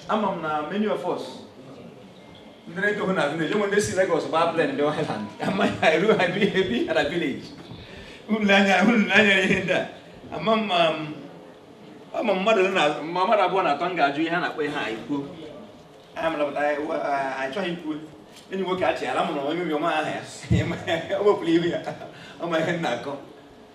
ama m na many of us ndị na-etohụ na village wụ ndị si Lagos gbaa plane ndị Island amaghị ha eru ha ebi ebi na village unu anya unu anya ihe ndị a ama m ma m ama m mmadụ na ma mmadụ abụọ na atọ m ga-ajụ ihe a na-akpọ ihe a ikwu a mapụta achọghị ikwu enyi nwoke achịghara m na onye obiọma aha ya o wepụrụ ihu ya ọ ma ihe m na-akọ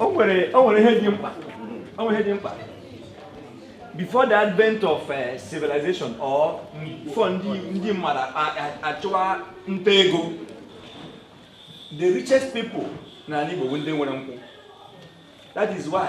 o nwere ihe dị mkpa o nwere ihe dị mkpa before the advent of uh, civilization or before ndị mmadụ achụwa nta ego the richest people n'ala Igbo bụ ndị nwere nkwụ that is why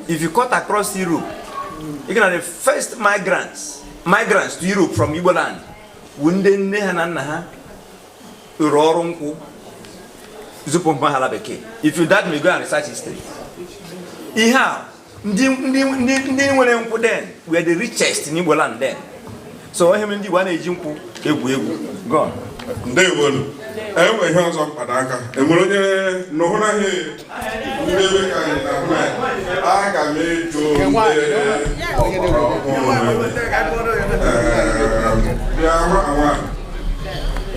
If you cut across Europe, you can the first migrants to Europe from Igbo land, bụ ndị nne ha na nna ha rụrụ ọrụ nkwụ zụpụ mpa ha ala bekee. If you doubt me go and research history. Ihe a ndị nwere nkwụ then were the richest in Igbo land then. so ihe mere ndị Igbo anaghị eji nkwụ egwu egwu gọn ndewonu enwe ihe ọzọ m kpado aka e nwere onye nụhụ na ihe ndebe ka anyị na hụ na aga m eto ọgbara ọhụrụ bịa hụ awa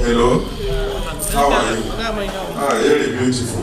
hello how are you ah very beautiful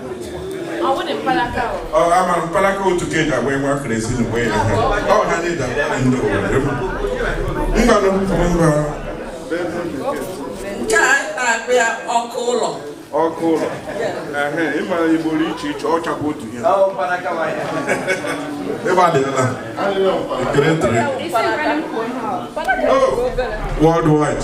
ama mpalaka otu ka eji agba nwa kere ezi na uwe ya ọ ha ndị da ndị obodo mgbanụ mba nke a na-akpọ ya ọkụ ụlọ ọkụ ụlọ ịmara igbo dị iche iche ọ chakwa otu ihe ịgba adịla ekele ntụrụ worldwide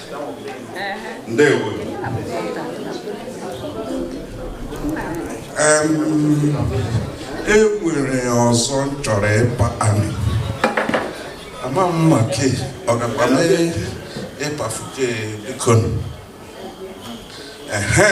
ndewo e nwere ọzọ m chọrọ ịpa anyị ama m ma ke ọ gakwa mee ịpafuke biko ehe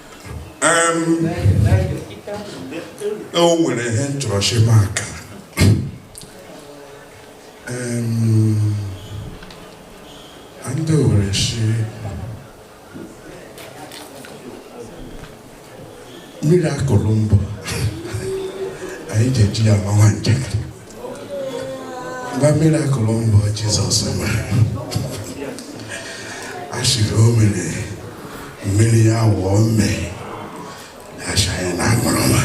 o nwere ihe m chọrọ shi maka ndị Owere shi mmiri akụrụ mbụ anyị ji eji ya ama nwa njakịrị na mirakụl mbụ Jizọs mere asịrị o mere mmiri ya wụọ mmii asị ya na aṅụrụma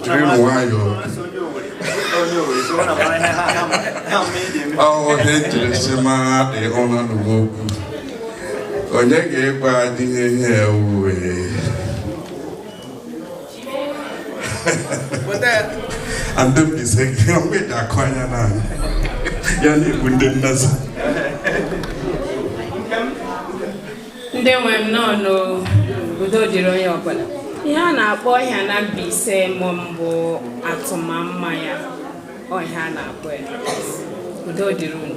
jiri nwayọọ ọhụrụ ihe njirisi mara dị ọnụ n'ugbo okwu onye ga-ekwe adịghị ihe ewuwe and then is saying, I'm with that choir now. Ya ni bụ nde na-azụ. Ndị nwe m nnọọ nụ udo dịrị onye ọbụla. Ihe a na-akpọ ihe a na Mbaise mụ mbụ atụmamma ya ọ ihe a na-akpọ ya. Udo dịrị unu.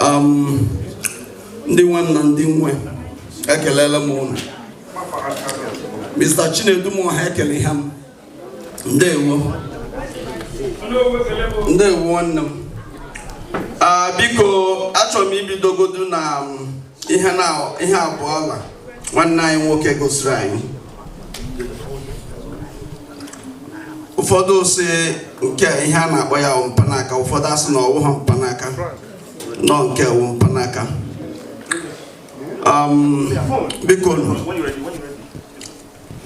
um, ndị nwe m na ndị m nwe ekelela m ụnụ Mr. Chinedum ha ekele ha m ndewo ndewo nwanne m ah, biko achọrọ m ibidogodu na um, ihe abụọ ọla nwanne anyị nwoke gosiri anyị ụfọdụ sị nke ihe a na-akpọ ya wụ mpanaka ụfọdụ asị na ọ wụha mpanaka na ọ nke wụ mpanaka um, biko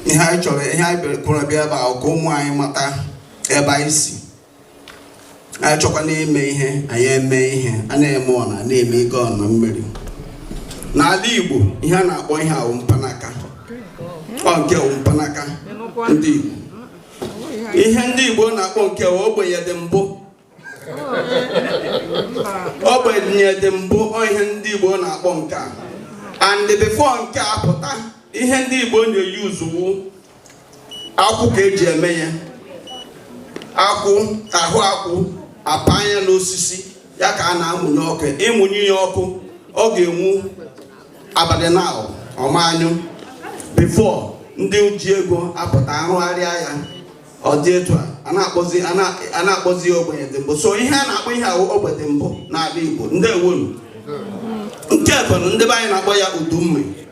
ihe anyị chọrọ ihe anyị kwuru bịa ebe a wụ ka ụmụ anyị mata ebe anyị si anyị chọkwanụ ime ihe anyị eme ihe a na-eme ọna na-eme ike ọna mmiri n'ala Igbo ihe a na-akpọ ihe a wụ mpanaka ọ nke wụ mpanaka ndị Igbo ihe ndị Igbo na-akpọ nke wụ ogbenye dị mbụ ogbenye dị mbụ ọ ihe ndị Igbo na-akpọ nke a and before nke a pụta ihe ndị Igbo na-eyuzu wụ akwụ ka eji eme ya akwụ ahụ akwụ apanye ya n'osisi ya ka a na-amụnye ọkụ ịmụnye ya ọkụ ọ ga-enwu abalị na ọ ma anyụ before ndị oji ego apụta arụgharịa ya ọ dị etu a a na-akpọzi ya ogbenye dị mbụ so ihe a na-akpọ ihe a wụ ogbenye dị mbụ n'ala Igbo ndeewonu nke bụ ndị be anyị na-akpọ ya udu mmiri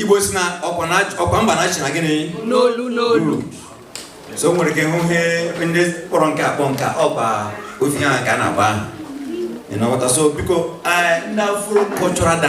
Igbo sị na ọkwa mba na-achị na gịnị n'olu n'olu so nwere ike hụ ihe ndị kpọrọ nke akpọ nke ọkwa otu ihe ahụ ka a na-agba ahụ ị na-aghọta so biko ndị Afro cultural dance